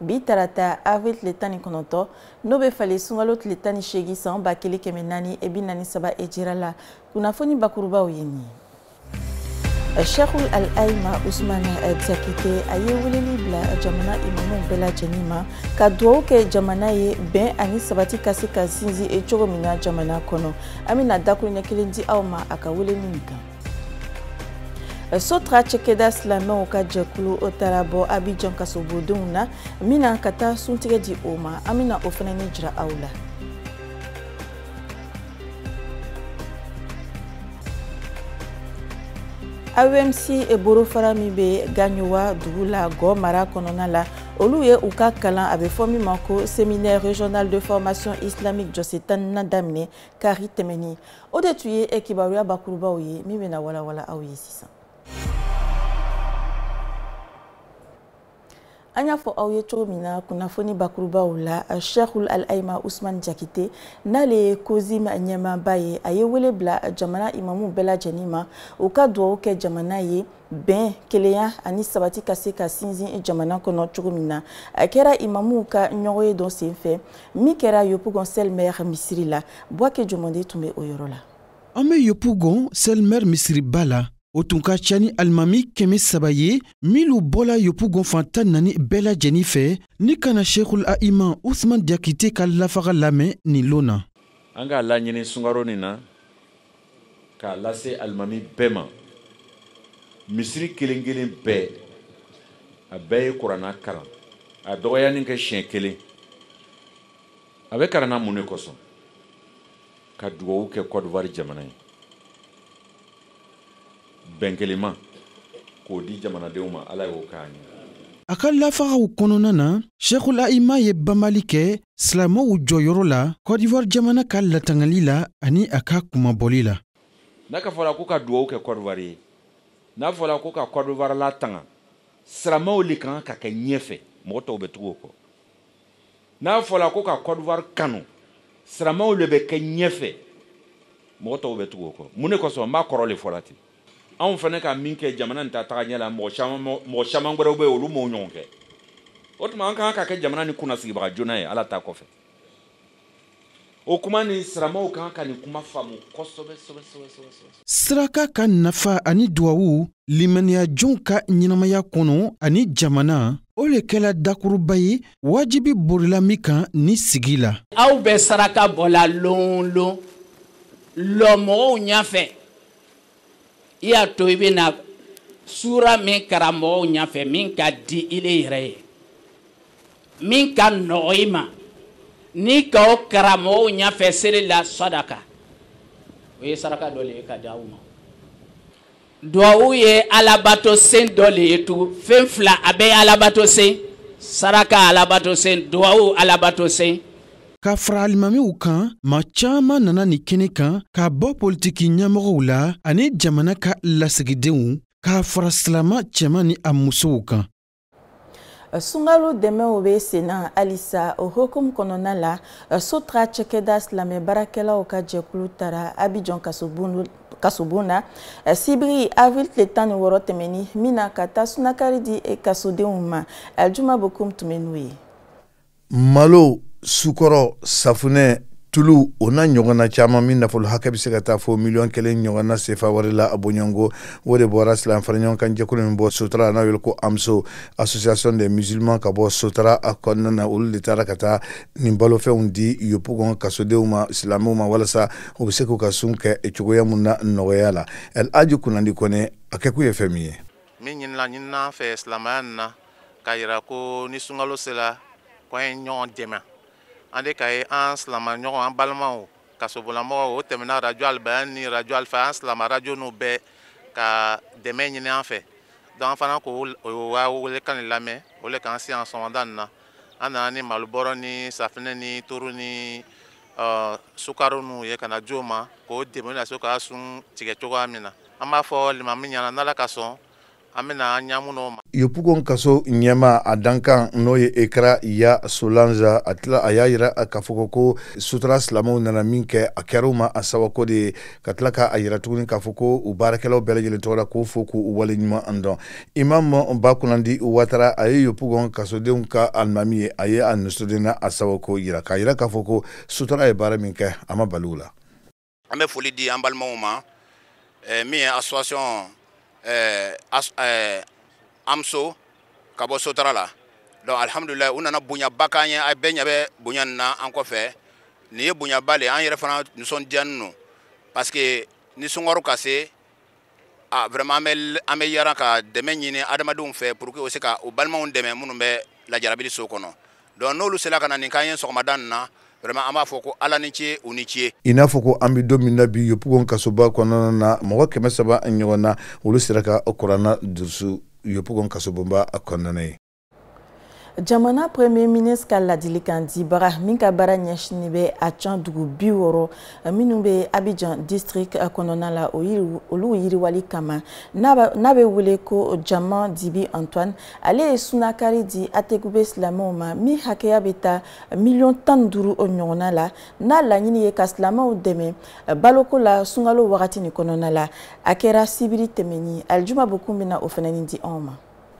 bi tarata avril tile tan ni kɔnɔntɔ n'o bɛ falen sunkalo tile tan ni seegin san ba kelen kɛmɛ naani e bi naani saba ejira la kunnafoni bakurubaw ye nin ye shekul al aima usman jakite a ye weleli bila jamana imamuw bɛɛ lajɛlen ma ka dugawu kɛ jamana ye bɛn ani sabati ka se ka sinsin cogo min na jamana kɔnɔ an bɛna dakuruɲɛ kelen di aw ma a ka weleli nin kan sotra cɛkɛda silamɛw ka jɛkulu o taara bɔ abijan kasobodenw na min na ka taa suntigɛ di o ma an bɛna o fana ni jira aw la aeemci borofara min bɛ gaɲowa dugu la gɔ mara kɔnɔna la olu ye u ka kalan a bɛ fɔ min ma ko séminaire régional de formation islamique jɔsen tannan daminɛ kari tɛmɛni o de tun ye kibaruya bakurubaw ye min bɛna walawala aw ye sisan an y'a fɔ aw ye cogo min na kunnafoni bakurubaw la sheikhul al aima usman jakite n'ale ye cosim ɲɛmaaba ye a ye wele bila jamana imamu bɛɛ lajɛlen ma u ka dugawu kɛ jamana ye bɛn kelenya ani sabati ka se ka sinsin jamana kɔnɔ cogo min na a kɛra imamuw ka ɲɔgɔn ye dɔ sen fɛ min kɛra yopugon sɛlmɛr misiri la buwake jɔmande tun bɛ o yɔrɔ la an bɛ yopugon sɛlmɛr misiriba la o tun ka ca ni alimami kɛmɛ saba ye minnu bɔla yopugon fan tan ni naani bɛɛ lajɛnin fɛ ni ka na shekul aima usman jakite ka lafaga lamɛn nin lon na an k'a laɲini sungaro nin na k'a lase alimami bɛɛ ma misiri kelen kelen bɛɛ a bɛɛ ye kurana karan a dɔgɔyani kɛ siɲɛ kelen a bɛ karan na mun de kosɔn ka dugawu kɛ kɔdiwari jamana ye bɛn kelenma k'o di jamanadenw ma ala y'o k'an ye a ka lafagaw kɔnɔna na shekul aima ye banbali kɛ silamɛw jɔyɔrɔ la kɔdiwari jamana ka latangali la ani a ka kunmabɔli la n'a ka fɔla ko ka dugawu kɛ kɔdiwari ye n'a fɔla ko ka kɔdiwari latanga silamɛw le kan ka kɛ ɲɛfɛ mɔgɔ tɔw bɛ tugu o kɔ n'a fɔla ko ka kɔdiwari kanu siramaw le bɛ kɛ ɲɛfɛ mɔgɔ tɔw bɛ tugu o kɔ mun de kosɔn n b'a kɔrɔ le fɔla ten anw fana ka min kɛ jamana nin ta taga ɲɛ la mɔgɔ caman wɛrɛw bɛ olu m'o ɲɔgɔn kɛ o tuma an ka kan ka kɛ jamana ni kunnasigibaga joona ye ala ta kɔfɛ o kuma ni siramaw kan ka nin kuma faamu kosɛbɛ saraka ka nafa ani duwawu limaniyajɔnw ka ɲɛnamaya kɔnɔ ani jamana o le kɛla dakuruba ye wajibi borila min kan ni sigi la aw bɛ saraka bɔla lon lon lɔ mɔgɔw ɲafɛ i y'a to i bɛ na suura min karan mɔgɔw ɲɛfɛ min ka di i le yɛrɛ ye min ka nɔgɔ i ma n'i ka o karan mɔgɔw ɲɛfɛ seli la sadaka o ye saraka dɔ le ye ka di aw ma duwawu ye alabato sen dɔ le ye tugun fɛn fila a bɛɛ ye alabato sen saraka alabato sen duwawu alabato sen Ka fara alimamiw kan maa caman nana nin kɛnɛ kan k'a bɔ politiki ɲɛmɔgɔw la ani jamana ka lasigidenw k'a fara silama cɛman ni a musow kan sunkalo dɛmɛw bɛ sen na halisa o hukumu kɔnɔna la sotra cɛkɛda silamɛ baarakɛlaw ka jɛkulu taara abidjan kasobon na sibiri avril tile tan ni wɔɔrɔ tɛmɛni min na ka taa sunakari di kasodenw ma juma bokum tun bɛ n'o ye malo sukɔrɔ safunɛ tulu o n'a ɲɔgɔnna caman min nafolo hakɛ bɛ se ka taa fo miliyɔn kelen ɲɔgɔnna sefa wari la a bɔɲɔgɔnko o de bɔra silamɛ fara ɲɔgɔn kan jɛkulu min bɔ sotara n'a wele ko amso association des musulmans ka bɔ sotara a kɔnɔna na olu de taara ka taa nin balofɛnw di yopugon kasodenw ma silamɛw ma walasa u bɛ se k'u ka sun kɛ cogoya min na nɔgɔya la el aji kunnandi kɔnɛ a kɛkun ye fɛn min ye min ɲinina an fɛ silamɛya na k'a yira ko ni sunkalo sera ko an ye ɲɔgɔn dɛmɛ an de ka ye an silama ɲɔgɔn an balimaw kasobolamɔgɔw o tɛmɛna arajo alibayan ni arajo alifa an silama arajo n'u bɛɛ ka dɛmɛ ɲini an fɛ donc an fana k'o ka welekan de lamɛn o le k'an se yan sɔgɔmada nin na an nana ni malo bɔrɔ ni safinɛ ni turu ni sukaro nunu ye ka na di o ma k'o dɛmɛn a se ka sun tigɛ cogoya min na an b'a fɔ limami ɲɛna n'ala ka sɔn an bɛna an ɲamu n'o ma yopugon kaso ɲɛmaa dankan n'o ye ekra ya solange a tila a y'a yira k'a fɔ ko sotara silamɛw nana min kɛ a kɛr'u ma a sɛwako de ye ka tila k'a yira tuguni k'a fɔ ko u baarakɛlaw bɛɛ lajɛlen tɔgɔ la k'o fo k'u waleɲumandɔn imam bakunandi watara a ye yopugon kasodenw ka alimami ye a ye a nisɔndiya n'a sɛwako yira k'a yira k'a fɔ ko sotara ye baara min kɛ a ma bali u la an bɛ foli di an balimaw ma eh, min ye association eh, as, eh, amso ka bɔ sotara la donc alhamdulilayi u nana bonyaba k'an ye a bɛɛ ɲɛ bɛ bonya nin na an kɔfɛ nin ye bonyaba le ye an yɛrɛ fana nisɔndiyanin lo parce que ni sunkaro ka se Ah, vraiment an bɛ an bɛ yaara ka dɛmɛ ɲini adamadenw fɛ pour que o se ka o balimaw dɛmɛ minnu bɛ lajarabili so kɔnɔ donc n'olu sera ka na nin k'an ye sɔgɔmada nin na vraiment an b'a fɔ ko ala ni ce u ni ce i n'a fɔ ko an bɛ don min na bi yopugon kasoba kɔnɔna na mɔgɔ kɛmɛ saba ɲɔgɔn na olu sera ka kurana durusu yopugon kasobonba kɔnɔna ye jamana premier ministre ka ladilikan dibaga min ka baara ɲɛsinin bɛ acan dugu bi wɔɔrɔ minnu bɛ abijan district kɔnɔna la olu yiriwali kama n'a bɛ wele ko jama dibi antoine ale ye sunakari di atekube silamɛw ma min hakɛya bɛ taa miliyɔn tan duuru ɲɔgɔnna la n'a laɲini ye ka silamɛw dɛmɛ baloko la sunkalo wagati nin kɔnɔna la a kɛra sibiri tɛmɛni alijuma bokun bɛna o fana ni di anw ma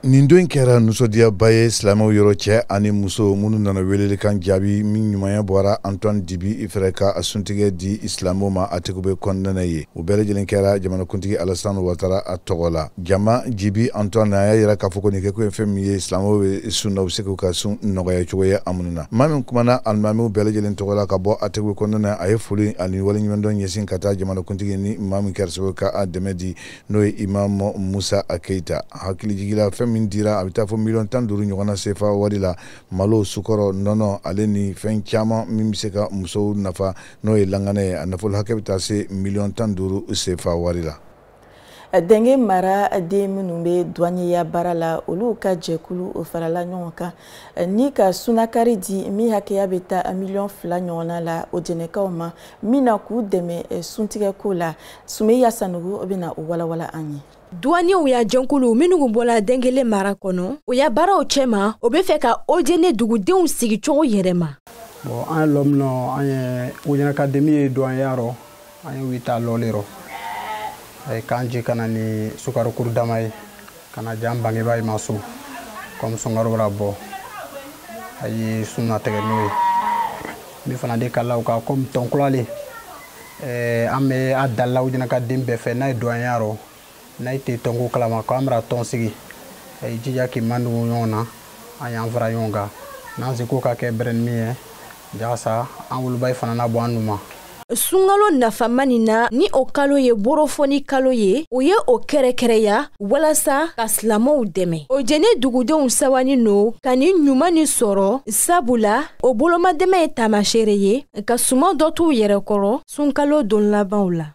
nin don kɛra nusɔdiyaba ye silamɛw yɔrɔ cɛ ani muso minnu nana welelikan jaabi min ɲumanya bɔra antoine dibi ifɛrɛ ka a suntigɛ di silamɛw ma atekube kɔnɔna na ye o bɛɛ lajɛlen kɛra jamanakuntigi alasan watara a tɔgɔ la jama dibi antoine a y'a yira k'a fɔ ko nin kɛko ye fɛn min ye silamɛw bɛ sun na u bɛ se k'u ka sun nɔgɔya cogo ye a minnu na maa min kumana alimamiw bɛɛ lajɛlen tɔgɔ la ka bɔ atekube kɔnɔna na a ye foli ani waleɲumandɔn ɲɛsin ka taa jamanakuntigi ni maa min kɛra sababu ka a dɛmɛ di n'o ye imam musa keyita hakilijigila fɛn min dira a bɛ taa fɔ miliyɔn tan duuru ɲɔgɔnna sefa wari la malo sukɔrɔ nɔnɔ ale ni fɛn caman min bɛ se ka musow nafa n'o ye langanɛ ye a nafolo hakɛ bɛ taa se miliyɔn tan duuru sefa wari la dengele mara den minnu bɛ duwanyeya baara la olu ka jɛkulu o farala ɲɔgɔn kan Eh, ni ka sunakari di min hakɛya bɛ taa miliyɔn fila ɲɔgɔnna la ojɛnɛkaw ma min na k'u dɛmɛ eh, suntigɛko la sumeya sanogo bɛna o walawala an ye duwaniyew ya jɛnkulu minnu kun bɔla dengele mara kɔnɔ o ya baaraw cɛma o be fɛ ka ojene dugudenw sigi cogo yɛrɛma bɔn an ye lɔ min nɔ an ye ojɛnɛka den min ye duwanyeya rɔ an ye wita lɔɔli rɔ a ye kan ji kana ni sukarokuru dama ye kana jan bangebaa ma so kɔmi sunkaro bara bɔ a ye sun na tɛgɛ n'o ye min fana de kalaw ka kɔmi tɔnkulale an bɛ a dali la ojɛnɛka den bɛɛ fɛ n'a ye duwanyeya rɔ n'a tɛ tɔnko kalama ko an bara tɔn sigi a ye jija k'i mandugu ɲɔgɔn na an y'an fara ɲɔgɔn kan n'an seko ka kɛ bɛrɛ ni min ye jasa an wolobayi fana na bɔ an nun ma sunkalo nafama nin na ni o kalo ye borofɔni kalo ye u ye o kɛrɛkɛrɛya walasa ka silamɛw dɛmɛ ojɛnɛ dugudenw sɛwani no ka ni ɲuman ni sɔrɔ sabula o bolomadɛmɛ ye taamasere ye ka suman dɔ t'u yɛrɛ kɔrɔ sunkalo don labanw la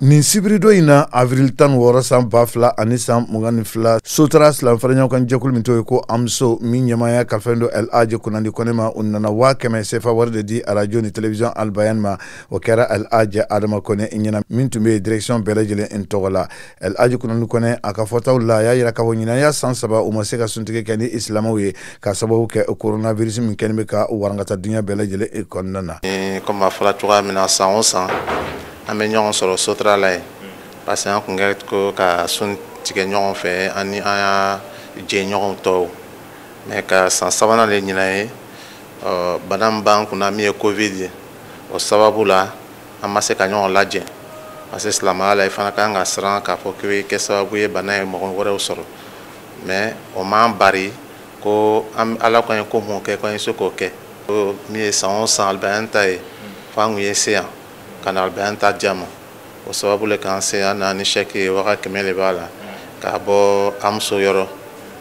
nin sibiridon in na avril tan wɔɔrɔ san ba fila ani san mugan ni fila sotra silamɛ faraɲɔgɔnkan jɛkulu min tɔgɔ ye ko amso min ɲɛmaaya kalifalen don el aje kunandi kɔne ma u nana waa kɛmɛ sefa wari de di arajo ni television albayan ma o kɛra el aje adama kɔne ɲɛna min tun bɛ direction bɛɛ lajɛlen in tɔgɔ la el aje kunandi kɔne a ka fɔtaw la a y'a yira k'a fɔ ɲinan y'a san saba u ma se ka suntigɛ kɛ ni isilamaw ye ka sababu kɛ coronavirus min kɛlen bɛ ka warankata dunya bɛɛ lajɛlen kɔnɔna na comme a fɔra cogoya min na san o san an bɛ ɲɔgɔn sɔrɔ sotra la yen parce que an tun kɛ ko ka sun tigɛ ɲɔgɔn fɛ ani an ya jɛɲɔgɔn tɔw mais ka san sabanan le ɲinan ye bana min b'an kunna min ye covid ye o sababu la an ma se ka ɲɔgɔn lajɛ parce que silamɛya la i fana ka kan ka siran k'a fɔ k'i kɛ sababu ye bana ye mɔgɔ wɛrɛw sɔrɔ mais o m'an bari ko an ala kɔni ko min kɛ ko an ye se k'o kɛ min ye san o san alibayan ta ye fo an kun ye se yan ka na alibayan ta di a ma o sababu le k'an se an na ni chèque ye waga kɛmɛ le b'a la k'a bɔ amso yɔrɔ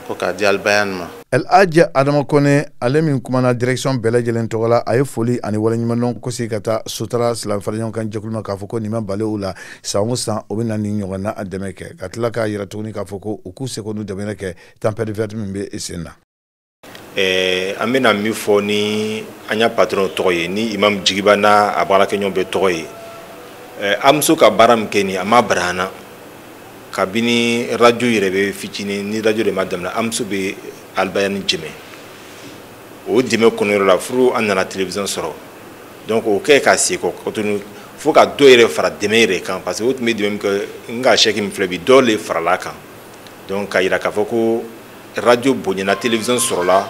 ko k'a di alibayan ma el hadj adama kone ale min kumana direction bɛɛ lajɛlen tɔgɔ la a ye foli ani waleɲumandɔn kosi ka taa sotra silamɛ faraɲɔgɔnkan jɛkulu ma k'a fɔ ko nin ma bala u la san o san o bɛ na nin ɲɔgɔn na a dɛmɛ kɛ ka tila k'a yira tuguni k'a fɔ ko u k'u seko n'u damayira kɛ tempête verte min bɛ sen na an bɛna min fɔ ni an ya patron tɔgɔ ye ni imam jigiba n'a a baarakɛɲɔgɔn bɛɛ tɔgɔ ye amso ka baara min kɛ nin a ma bara an na kabini radio yɛrɛ bɛ fitinin ni radio de ma daminɛ amso bɛ alibayan dɛmɛ o dɛmɛ kɔnɔyɔrɔ la furu an nana television sɔrɔ donc o kɛ ka segin kɔ tugun fo ka dɔ yɛrɛ fara dɛmɛ yɛrɛ kan parce que o tun bɛ dɛmɛ min kɛ nka chèque min filɛ bi dɔ le farala kan donc k'a yira k'a fɔ ko radio bonyana télévision sɔrɔla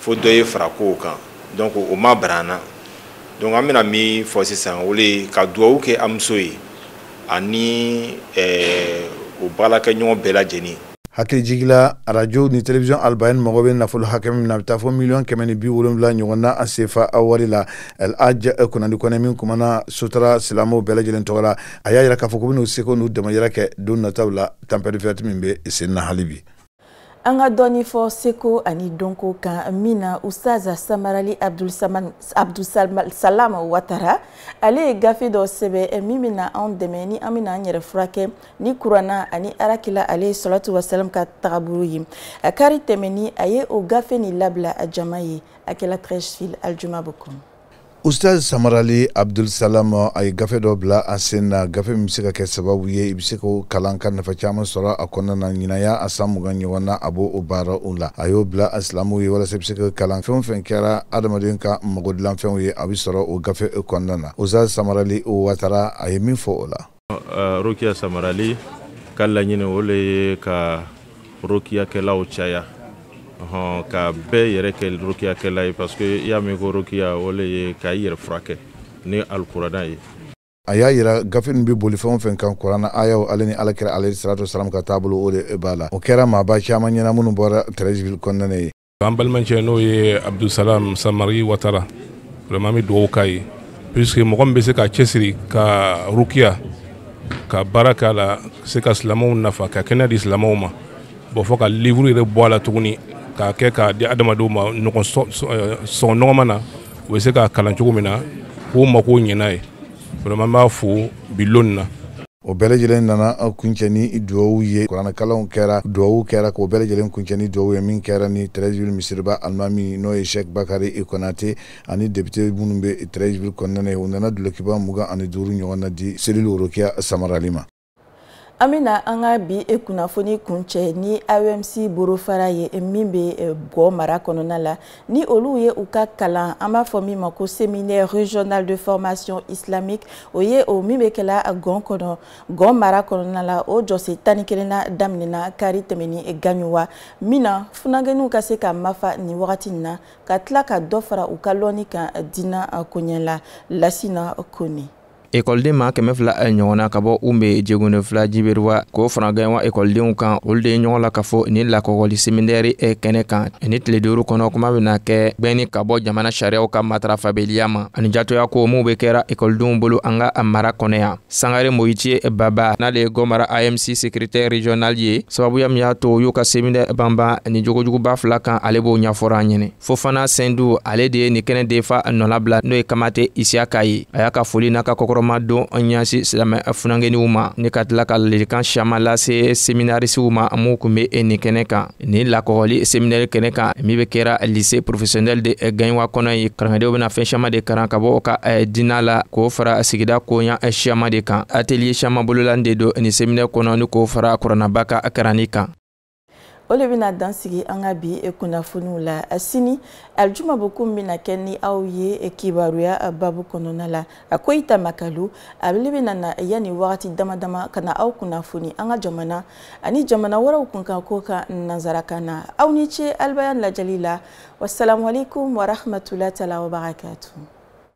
fo dɔ ye fara kow kan donc o ma bara an na donc an bɛna min fɔ sisan o le ye ka duwawu kɛ amso ye ani eh, o baarakɛɲɔgɔn bɛɛ lajɛlen hakilijigi la radio ni télévision albayan mago bɛ nafolo hakɛ min na a bɛ taa fɔ miliyɔn kɛmɛ ni bi wolonwula ɲɔgɔn na a sefa a wari la el hadj kunandi kone min kumana sotra silamɛw bɛɛ lajɛlen tɔgɔ la a y'a yira k'a fɔ k'u bɛn'u seko n'u damayira kɛ don nataw la tempête verte min bɛ sen na hali bi an ka dɔɔni fɔ seko ani dɔnko kan min na ustaza samarali abdulsalam watara ale ye gafe dɔ sɛbɛn eh, min bɛna anw dɛmɛ ni an bɛna an yɛrɛ furakɛ ni kuranna ani alakira alayhi salatu wasalam ka tagabolo ye a kari tɛmɛni a ye o gafe nin labila a jama ye a kɛla treichville aljuma bon kɔnɔ ustaz samarali abdulsalam a ye gafe dɔ bila a sen na gafe min bɛ se ka kɛ sababu ye i bɛ se k'o kalan ka nafa caman sɔrɔ a kɔnɔna na ɲinan ye a san mugan ɲɔgɔn na a b'o o baara o la a y'o bila a silamɛw ye walasa i bɛ se ka kalan fɛn o fɛn kɛra adamaden ka magodilanfɛnw ye a bɛ sɔrɔ o gafe kɔnɔna na ustaz samarali watara a ye min fɔ o la uh, rokiya samarali ka laɲini o le ye ka rokiyakɛlaw caya hɔn ka bɛɛ yɛrɛ kɛ rokiyakɛla ye parce que i y'a mɛn ko rokiya o le ye ka i yɛrɛ furakɛ ni alikurana ye a y'a yira gafe nin bɛ boli fɛn o fɛn kan kuranna ayaw ale ni alakira alayhi salatu wasalamu ka taabolo o de b'a la o kɛra maaba caman ɲɛna minnu bɔra treichville kɔnɔna ye an balimakɛ n'o ye abudusalaam samari watara vraiment an bɛ dugawu k'a ye puisque mɔgɔ min bɛ se ka cɛsiri ka rukiya ka baara k'a la se ka silamɛw nafa ka kɛnɛya di silamɛw ma bon fɔ ka livre yɛrɛ bɔ a la tuguni k'a kɛ k'a di adamadenw ma sɔngɔ nɔgɔman na u bɛ se k'a kalan cogo min na k'u makow ɲɛ n'a ye vraiment an b'a fo bi lon nin na o bɛɛ lajɛlen nana kuncɛ ni duwawu ye kuranɛkalanw kɛra duwawu kɛra k'o bɛɛ lajɛlen kuncɛ ni duwawu ye min kɛra ni treichville misiriba alimami n'o ye sɛk bakari konate ani depite minnu bɛ treichville kɔnɔna na ye u nana dulokiba mugan ani duuru ɲɔgɔn na di cellule rukiya samarali ma an bɛna an ka bi e kunnafoni kuncɛ ni aeemci borofara ye min bɛ gɔ mara kɔnɔna la ni olu ye u ka kalan an b'a fɔ min ma ko séminaire régional de formation islamique o ye o min bɛ kɛla gɔ kɔnɔ gɔ mara kɔnɔna la o jɔsen tan ni kelennan daminɛna kari tɛmɛnin gaɲuwa min na funagɛniw ka se ka mafa nin wagati in na ka tila ka dɔ fara u ka lɔnni kan diina koɲɛ la lasina kone ekɔliden ma kɛmɛ fila eh, ɲɔgɔn na ka bɔ ume jegonefila giberuwa k'o fara gaɲuwa ekɔlidenw kan olu de ye ɲɔgɔn lakafo nin lakɔgɔli seminɛri eh, kɛnɛ kan ni tile duuru kɔnɔ kuma bena kɛ bɛnni ka bɔ jamana sariyaw ka matarafabeliya ma ani jatoya ko minw be kɛra ekɔlidenw bolo an ka mara kɔnɔ yan sangare moyitiye eh, baba n'ale ye gɔ mara aeemci sekretɛr regional ye sababuya min y'a to y'u ka seminɛri banban ni jogojuguba fila kan ale b'o ɲafɔra an ɲɛnɛ fofana sendu ale de ye nin kɛnɛ denfa nɔlabila n'o ye kamate isiyaka ye a y'a ka foli n'a ka kɔkɔrɔmadon ɲasin silamɛ funankɛniw ma ni ka tila ka ladilikan siaman lase seminarisiw ma minw kun be e nin kɛnɛ kan nin lakɔgɔli seminɛri kɛnɛ kan min be kɛra lise profesiyɔnɛli de gaɲuwa kɔnɔ ye karangadenw bena fɛn siaman de karan ka bɔ ka diina la k'o fara sigida koɲa siaman de kan ateliye siaman bololanin de don nin seminɛri kɔnɔ ni k'o fara kuranaba ka karanni kan o le bɛna dansigi an ka bi e kunnafoniw la asini alijuma bokum bɛna kɛ ni aw ye e kibaruya babu kɔnɔna la a koyita makalu a le bɛna na yanni wagati dama dama ka na aw kunnafoni an ka jamana ani jamana wɛrɛw kunkan ko ka nanzarakan na aw ni ce alibayan lajɛli la wasalamualeykum warahmatulahi taala wabarakatu